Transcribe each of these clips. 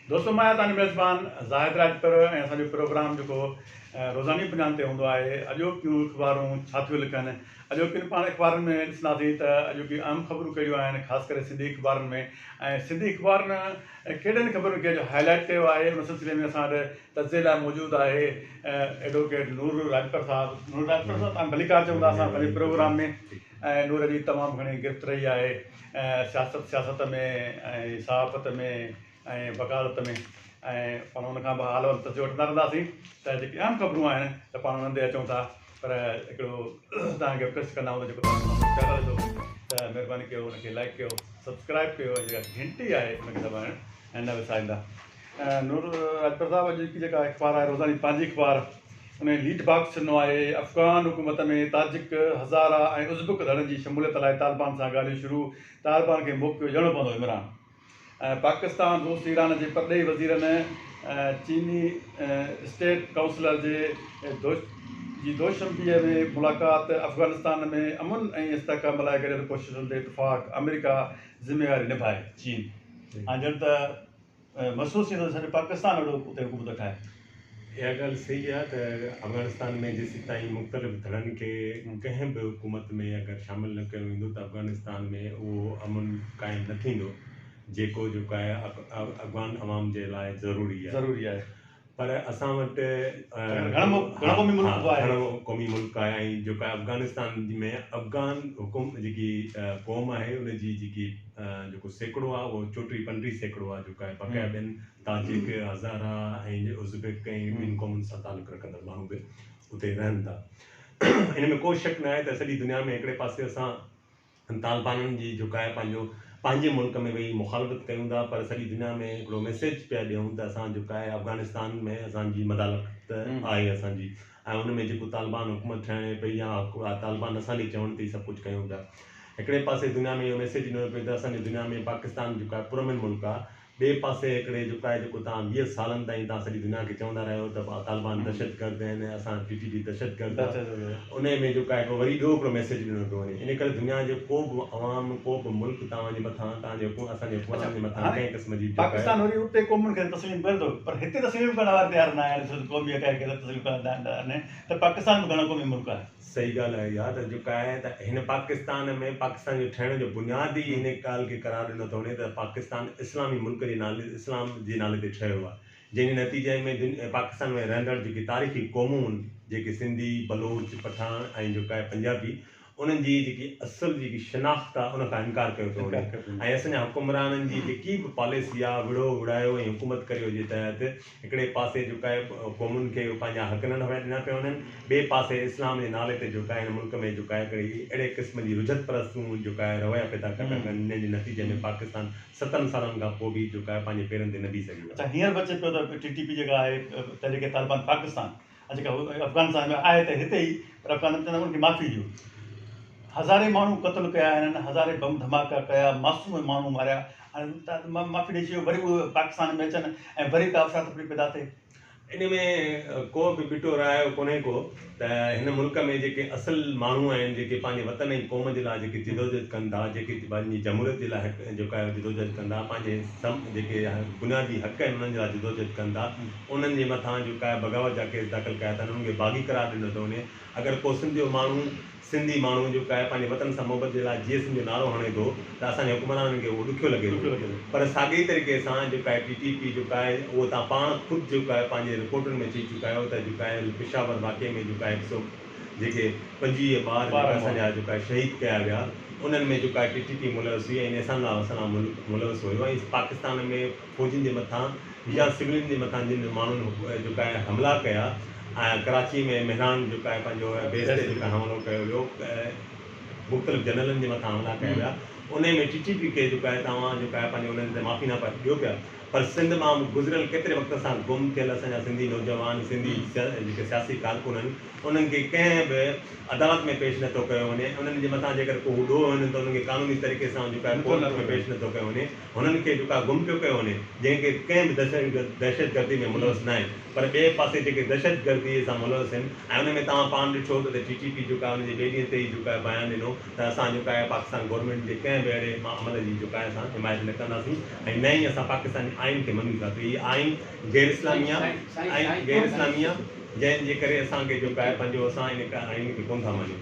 دوستو مان آهيان تنهنجو ميزبان زاهد راڄپر ۽ اسان جو پروگرام جيڪو روزاني پنجان تي هوندو آهي اڄوڪيون اخبارون ڇا ٿيون لکن اڄوڪين پاڻ اخبارن ۾ ڏسنداسين ته اڄوڪيون اهم خبرون ڪهڙيون آهن خاص ڪري سنڌي اخبارن ۾ ۽ سنڌي اخبارن ڪهڙين خبرن کي اڄ هاء لائيٽ ڪيو آهي ان سلسلي ۾ اسان وٽ تجزئي لاء موجود آهي ايڊووڪيٽ نور راڄپر صاحب نور راڄپر صاحب تان ڀليڪار چون ٿا اسان پنهنجي پروگرام ۾ ۽ نور جي تمام گهڻي گرفت رهي آهي سياست سياست ۾ ۽ صحافت ۾ ۽ وڪالت ۾ ۽ پاڻ ان کان به حال احوال پڇي وٺندا رهنداسين ته جيڪي اهم خبرون آهن ته پاڻ انهن تي اچون ٿا پر هڪڙو تان کي رڪويسٽ ڪندا آهيون ته جيڪو تان جو چينل هجو ته مهرباني ڪيو ان کي لائڪ ڪيو سبسڪرائب ڪيو ۽ جيڪا گهنٽي آهي ان کي دٻائڻ نه وساريندا. نور اڪبر صاحب اڄ جي جيڪا اخبار آهي روزاني پنهنجي اخبار ان جي ليڊ باڪس ڏنو آهي افغان حڪومت ۾ تاجڪ هزاره ۽ ازبڪ ڌڙن جي شموليت لاء طالبان سان ڳالهيون شروع طالبان کي موقعو ڏيڻو پوندو عمران ۽ پاڪستان روس ايران جي پرڏيهي وزيرن چيني اسٽيٽ ڪائونسلر جي جي دوشنبي ۾ ملاقات افغانستان ۾ امن ۽ استحڪام لاء گڏيل ڪوششن تي اتفاق آمريڪا ذميواري نڀائي چين ۽ ڄڻ ته محسوس ٿيندو ته سڄو پاڪستان اهڙو اتي حڪومت ٺاهي. اها ڳالهه صحيح آهي ته افغانستان ۾ جيسيتائين مختلف ڌڙن کي ڪنهن به حڪومت ۾ اگر شامل نه ڪيو ويندو ته افغانستان ۾ اهو امن قائم نه ٿيندو جيڪو جو ڪايا افغان عوام جي لاء ضروري آهي. پر اسان وٽ گهڻو قومي ملڪ آهي ۽ جيڪا افغانستان ۾ افغان حڪم جيڪي قوم آهي ان جي جيڪي جيڪو سيڪڙو آهي اهو چوٽيهه پنجٽيهه سيڪڙو آهي جيڪا بقايا ٻين تاجڪ هزارا ۽ ازبيڪ ۽ ٻين قومن سان تعلق رکندڙ ماڻهو به اتي رهن ٿا ان ۾ ڪو شڪ ناهي ته سڄي دنيا ۾ هڪڙي پاسي اسان هن طالبانن جي جهڪاء پنهنجو پنهنجي ملڪ ۾ ويهي مخالفت ڪيون ٿا پر سڄي دنيا ۾ هڪڙو ميسيج پيا ڏيون ته اسان جهڪاء افغانستان ۾ اسان جي مدالخت آهي اسان جي ۽ ان ۾ جيڪو طالبان حڪومت ٺهڻي پئي يا طالبان اسان جي چوڻ تي ئي سڀ ڪجهه ڪيون پيا هڪڙي پاسي دنيا ۾ اهو ميسيج ڏنو پيو ته اسان جي دنيا ۾ پاڪستان جهڪاء پرامن ملڪ آهي ٻئي پاسي هڪڙي جوکائي جيڪو توهان ويهه سالن تائين توهان سڄي دنيا کي چوندا رهيا آهيو ته طالبان دهشتگرد آهن ۽ اسان ٽي ٽي پي دهشتگرد آ انهي ۾ جوکائي هڪڙو وري ٻيو هڪڙو ميسيج ڏنو پيو وڃي ان ڪري دنيا جو ڪو به عوام ڪو به ملڪ توهان جي مٿان توهان جي حڪومت اسان جي حڪمرانن جي مٿان ڪنهن قسم جي جوکائي صحيح ڳالهه آهي اها ته جيڪا آهي ته هن پاڪستان ۾ پاڪستان جي ٺهڻ جو بنياد ئي ان ڳالهه کي قرار ڏنو ٿو وڃي ته پاڪستان اسلامي ملڪ جي نالي اسلام جي نالي تي ٺهيو آهي جنهن جي نتيجي ۾ پاڪستان ۾ رهندڙ جيڪي تاريخي قومون هن جيڪي سنڌي بلوچ پٺاڻ ۽ جيڪا آهي پنجابي انهن جي جيڪي اصل جيڪي شناخت آهي ان کان انڪار ڪيو ٿو وڃي ۽ اسان جا حڪمرانن جي جيڪي به پاليسي آهي وڙهو وڙهايو ۽ حڪومت ڪري جي تحت هڪڙي پاسي جهڪايل قومن کي پنهنجا حق نه نوائي ڏنا پيا وڃن، ٻئي پاسي اسلام جي نالي تي جهڪايل ملڪ ۾ جهڪايل ڪڙي اهڙي قسم جي رجعت پرستون جهڪايل رويا پيدا ڪري ٿا ڪن، جنهن جي نتيجي ۾ پاڪستان ستن سالن کان پوء به جهڪايو پنهنجي پيرن تي نه بيهي سگهيو آهي. اڇا هينئر به اچي پيو ته ٽي ٽي پي جيڪا آهي تحريڪ طالبان پاڪستان، ها جيڪا افغانستان ۾ آهي ته هتي ئي پر افغان نه چوندا ان کي معافي ڏيو هزارين ماڻهو قتل ڪيا هنن هزارين بم ڌماڪا ڪيا معصوم ماڻهو ماريا هاڻي معافي ڏئي ڇڏيو وري اهي پاڪستان ۾ اچن ۽ وري ڪا افرا تفري پيدا ٿئي ان ۾ ڪو به ٻٽو رايو ڪونهي ڪو ته هن ملڪ ۾ جيڪي اصل ماڻهو آهن جيڪي پنهنجي وطن ۽ قوم جي لاء جيڪي جدوجهد ڪن ٿا جيڪي پنهنجي جمهوريت جي لاء جيڪا جدوجهد ڪن ٿا پنهنجي جيڪي بنيادي حق آهن انهن جي لاء جدوجهد ڪن ٿا انهن جي مٿان جو ڪاهي بغاوت جا ڪيس داخل ڪيا اٿن انهن کي باغي قرار ڏنو ٿو وڃي اگر ڪو سنڌيو ماڻهو سنڌي ماڻهو جو ڪاهي پنهنجي وطن سان محبت جي لاء جيئي سنڌ جو نعرو هڻي ٿو ته اسان جي حڪمرانن کي اهو ڏکيو لڳي ٿو پر ساڳئي طريقي سان جو ڪاهي ٽي ٽي پي جو ڪاهي اهو تان پاڻ خود جو ڪاهي پنهنجي رپورٽن ۾ چئي چڪا آهيو ته جو ڪاهي پشاور واقعي ۾ جو ڪاهي هڪ سو جيڪي پنجويهه ٻار جو ڪاهي اسان جا جو ڪاهي شهيد ڪيا ويا انهن ۾ جو ڪاهي ٽي ٽي پي ملوث هئي ۽ نيسان الاسلام ملوث هيو ۽ پاڪستان ۾ فوجين جي مٿان يا سولين جي مٿان جن ماڻهن جيڪا آهي حملا ڪيا ۽ ڪراچي ۾ مهراڻ جيڪا آهي پنهنجو بيس تي جيڪا حملو ڪيو ويو مختلف جنرلن جي مٿان حملا ڪيا ويا انهي ۾ ٽي ٽي پي کي جيڪا آهي توهان جيڪا آهي پنهنجو انهن تي معافي ناپا ڏيو پيا پر سنڌ مان گذريل ڪيتري وقت سان گم ٿيل اسان جا سنڌي نوجوان سنڌي جيڪي سياسي ڪارڪن آهن انهن کي ڪنهن به عدالت ۾ پيش نٿو ڪيو وڃي انهن جي مٿان جيڪر ڪو ڏوهه هن ته انهن کي قانوني طريقي سان جيڪا آهي ڪورٽ ۾ پيش نٿو ڪيو وڃي هنن کي جوڪا گم پيو ڪيو وڃي جنهن کي ڪنهن به دهشتگردي ۾ ملوث ناهن پر ٻئي پاسي جيڪي دهشتگردي سان ملوث هن ۽ ان ۾ توهان پاڻ ڏٺو ته ٽي ٽي پي جوڪا ان جي ٻئي ڏينهن تي ئي جوڪا بيان ڏنو ته اسان جوڪا پاڪستان گورنمينٽ جي ڪنهن به اهڙي عمل جي جوڪا اسان حمايت نه ڪنداسين ۽ نه ئي اسان پاڪستاني آئين کي مڃون ٿا ته هي آئين غير اسلامي آهي ۽ غير اسلامي آهي جنهن جي ڪري اسان کي جوڪا پنهنجو اسان ان آئين کي ڪونه ٿا مڃون.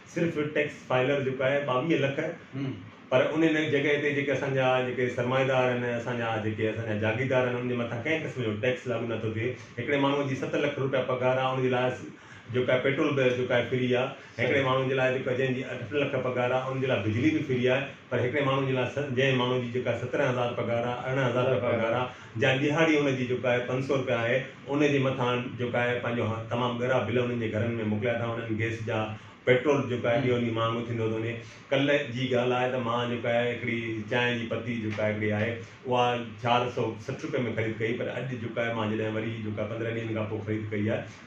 صرف ٽيڪس فائلر جيڪو آهي ٻاويهه لک پر ان ان جڳهه تي جيڪي اسان جا جيڪي سرمائيدار آهن اسان جا جيڪي اسان جا جاگيردار آهن انهن جي مٿان ڪنهن قسم جو ٽيڪس لاڳو نه ٿو ٿئي هڪڙي ماڻهو جي ست لک روپيا پگهار آهي ان جي لاء جيڪو آهي پيٽرول به جيڪو آهي فري آهي هڪڙي ماڻهو جي لاء جيڪو جنهن جي اٺ لک پگهار آهي ان جي لاء بجلي به فري آهي پر هڪڙي ماڻهو جي لاء جنهن ماڻهو جي جيڪا سترهن هزار پگهار آهي ارڙهن هزار روپيا پگهار آهي جا ڏهاڙي ان جي جيڪا آهي پنج سؤ روپيا آهي ان جي مٿان جيڪا آهي پنهنجو تمام ڳرا بل انهن جي گهرن ۾ موڪليا ٿا وڃن گئس جا پيٽرول جيڪا آهي ڏينهون ڏينهن مهانگو ٿيندو ٿو وڃي ڪلهه جي ڳالهه آهي ته مان جيڪا آهي هڪڙي چانهه جي پتي جيڪا آهي هڪڙي آهي اها چار سؤ سٺ روپئي ۾ خريد ڪئي پر اڄ جيڪا آهي مان جڏهن وري جيڪا پندرهن ڏينهن کان پوء خريد ڪئي آهي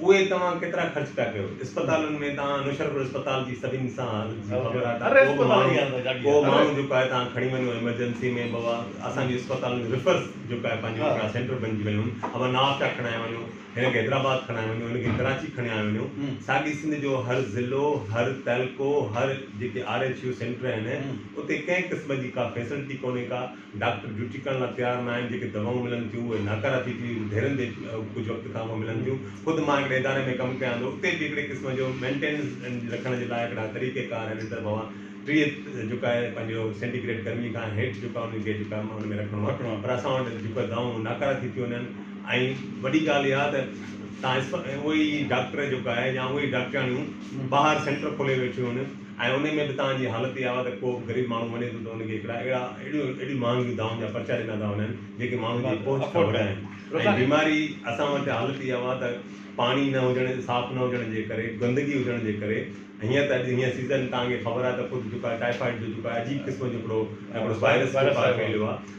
اهي توهان ڪيترا خرچ پيا ڪيو اسپتالن ۾ توهان نوشهرپور اسپتال جي سڀني سان حالت جي خبر آهي ته ڪو به ماڻهو ڪو ماڻهو جيڪو آهي توهان کڻي وڃو ايمرجنسي ۾ بابا اسان جي اسپتالن جي ريفرس جيڪو آهي پنهنجي هڪڙا سينٽر بنجي ويا آهن ابا نواب شاهه کڻائي وڃو هن کي حيدرآباد کڻائي وڃو هن کي ڪراچي کڻائي وڃو ساڳي سنڌ جو هر ضلعو هر تعلقو هر جيڪي آر ايڇ يو سينٽر آهن اتي ڪنهن قسم جي ڪا فيسلٽي ڪونهي ڪا ڊاڪٽر ڊيوٽي ڪرڻ لاء تيار نه آهن، جيڪي دوائون ملن ٿيون اهي ناڪاراتي ٿي ڍيرن تي ڪجهه وقت کان پوء ملن ٿيون، خود مان هڪڙي اداري ۾ ڪم ڪيان ٿو اتي به هڪڙي قسم جو مينٽيننس رکڻ جي لاء هڪڙا طريقه ڪار آهن ان طرف اوهان ٽيهه جيڪو آهي پنهنجو سينٽي گريڊ گرمي کان هيٺ جيڪو آهي انهن کي جيڪو آهي ان ۾ رکڻو آهي پر اسان وٽ جيڪو آهي دوائون ناڪارا ٿي ٿيون وڃن ۽ وڏي ڳالهه اها ته تان اسپ اهي ئي ڊاڪٽر جيڪو آهي يا اهي ئي ڊاڪٽرياڻيون ٻاهر سينٽر کولي ويٺيون آهن ۽ انهي ۾ به تان جي حالت اها آهي ته ڪو به غريب ماڻهو وڃي ٿو ته ان کي هڪڙا اهڙا اهڙيون مهانگيون دائون جا پرچا ڏنا ٿا وڃن جيڪي ماڻهو جي پهچ کان هوري آهن ۽ بيماري اسان وٽ حالت اها آهي ته پاڻي نه هجڻ صاف نه هجڻ جي ڪري گندگي هجڻ جي ڪري هيئن ته اڄ هيئن سيزن تان کي خبر آهي ته خود جيڪو آهي ٽائيفائيڊ جو جيڪو آهي عجيب قسم جو هڪڙو هڪڙو وائرس جيڪو آهي ڦهليو آهي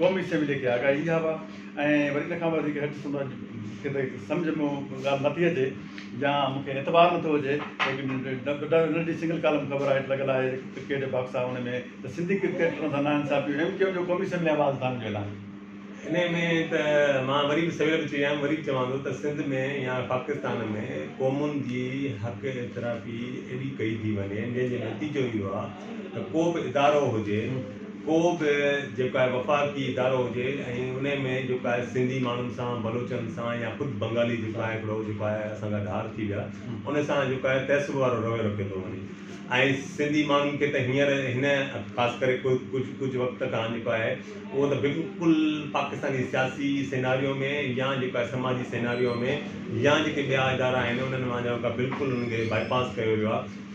قومي اسيمبليء کي آگاهي اها هئا ۽ وري ان کان به وڌيڪ هيٺ سندن جي کي ته سمجهه ۾ اها ڳالهه نه ٿي اچي يا مون کي اعتبار نه ٿو هجي ليڪن ان جي سنگل ڪالم خبر هيٺ لڳل آهي ڪرڪيٽ جي باڪس آهي ان ۾ ته سنڌي ڪرڪيٽرن سان ناانصافي ايم ڪيو ايم جو قومي اسيمبلي آواز اٿارڻ جو اعلان ان ۾ ته مان وري به سوير به چئي آيم وري به چوان ٿو ته سنڌ ۾ يا پاڪستان ۾ قومن جي حق اعترافي ايڏي ڪئي ٿي وڃي جنهن جو نتيجو اهو آهي ته ڪو به ادارو هجي ڪو به جيڪو آهي وفاقي ادارو هجي ۽ ان ۾ جيڪو آهي سنڌي ماڻهن سان بلوچن سان يا خود بنگالي جيڪو آهي هڪڙو جيڪو آهي اسان کان ڌار ٿي ويا ان سان جيڪو آهي تعصب وارو رويو رکيو ٿو وڃي ۽ سنڌي ماڻهن کي ته هينئر هن خاص ڪري ڪجهه ڪجهه وقت کان جيڪو آهي اهو ته بلڪل پاڪستاني سياسي سيناريو ۾ يا جيڪو آهي سماجي سيناريو ۾ يا جيڪي ٻيا ادارا آهن انهن مان جيڪو آهي بلڪل انهن کي باء پاس ڪيو ويو آهي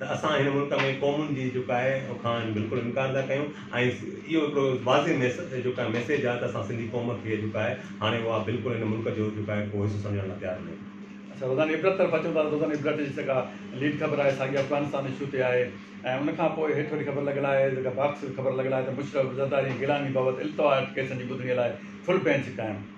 ته اسان هن ملڪ ۾ قومن جي جيڪو آهي ان کان بلڪل انڪار ٿا ڪيون ۽ اهو هڪڙو واضح جيڪو آهي ميسيج آهي ته اسان سنڌي قوم کي جيڪو آهي هاڻي اها بلڪل هن ملڪ جو جيڪو آهي ڪو حصو سمجهڻ لاء تيار نه آهي. اسان روزاني عبرت طرف اچون ٿا ته روزاني عبرت جي جيڪا ليڊ خبر آهي ساڳي افغانستان اشو تي آهي ۽ ان کان پوء هيٺ وڏي خبر لڳل آهي جيڪا باڪس خبر لڳل آهي ته مشرف زرداري ۽ گيلاني بابت التوا ڪيسن جي ٻڌڻي لاء فل بينچ قائم.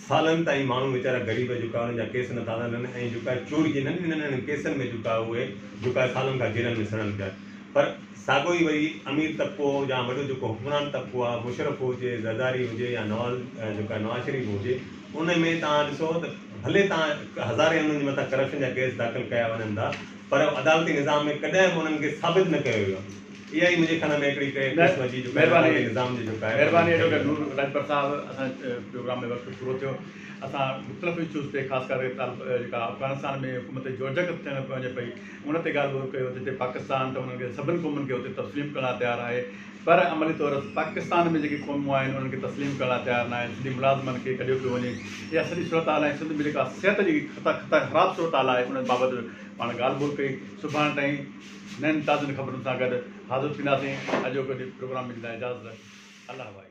سالن تائين ماڻهو ويچارا غريب جيڪا انهن جا ڪيس نٿا سنن ۽ جيڪا چور جي ننڍن ننڍن ڪيسن ۾ جيڪا اهي جيڪا سالن کان جيلن ۾ سڙن پيا پر ساڳو ئي وري امير طبقو يا وڏو جيڪو حڪمران طبقو آهي مشرف هجي زرداري هجي يا نواز جيڪا نواز شريف هجي ان ۾ توهان ڏسو ته ڀلي توهان هزارين انهن جي مٿان ڪرپشن جا ڪيس داخل ڪيا وڃن ٿا پر عدالتي نظام ۾ ڪڏهن به انهن کي ثابت نه ڪيو ويو اها ئي منهنجي کڻ ۾ هڪڙي ڪهي قسم جي جڪائي ناڪن جي نظام جي جڪائي ۽ مهرباني ٺهي ايڊووڪيٽ نور راڄپر صاحب اسان جو پروگرام ۾ وقت پورو ٿيو اسان مختلف اشوز تي خاص ڪري طالب جيڪا افغانستان ۾ حڪومت جي جوجڪ ٿيڻ وڃي پئي ان تي ڳالهه ٻولهه ڪيو جتي پاڪستان ته انهن کي سڀن قومن کي اتي تسليم ڪرڻ لاء تيار آهي پر عملي طور پاڪستان ۾ جيڪي قومون آهن انهن کي تسليم ڪرڻ لاء تيار ناهن سنڌي ملازمن کي ڪڍيو پيو وڃي اها سڄي صورتحال ۽ سنڌ ۾ جيڪا صحت جي خطا خطا خراب صورتحال آهي ان بابت پاڻ ڳالهه ٻولهه ڪئي سڀاڻ تائين نين تازن خبرن سان گڏ حاضر ٿينداسين اڄوڪي جي پروگرام ۾ جي لاء اجازت الله وائي.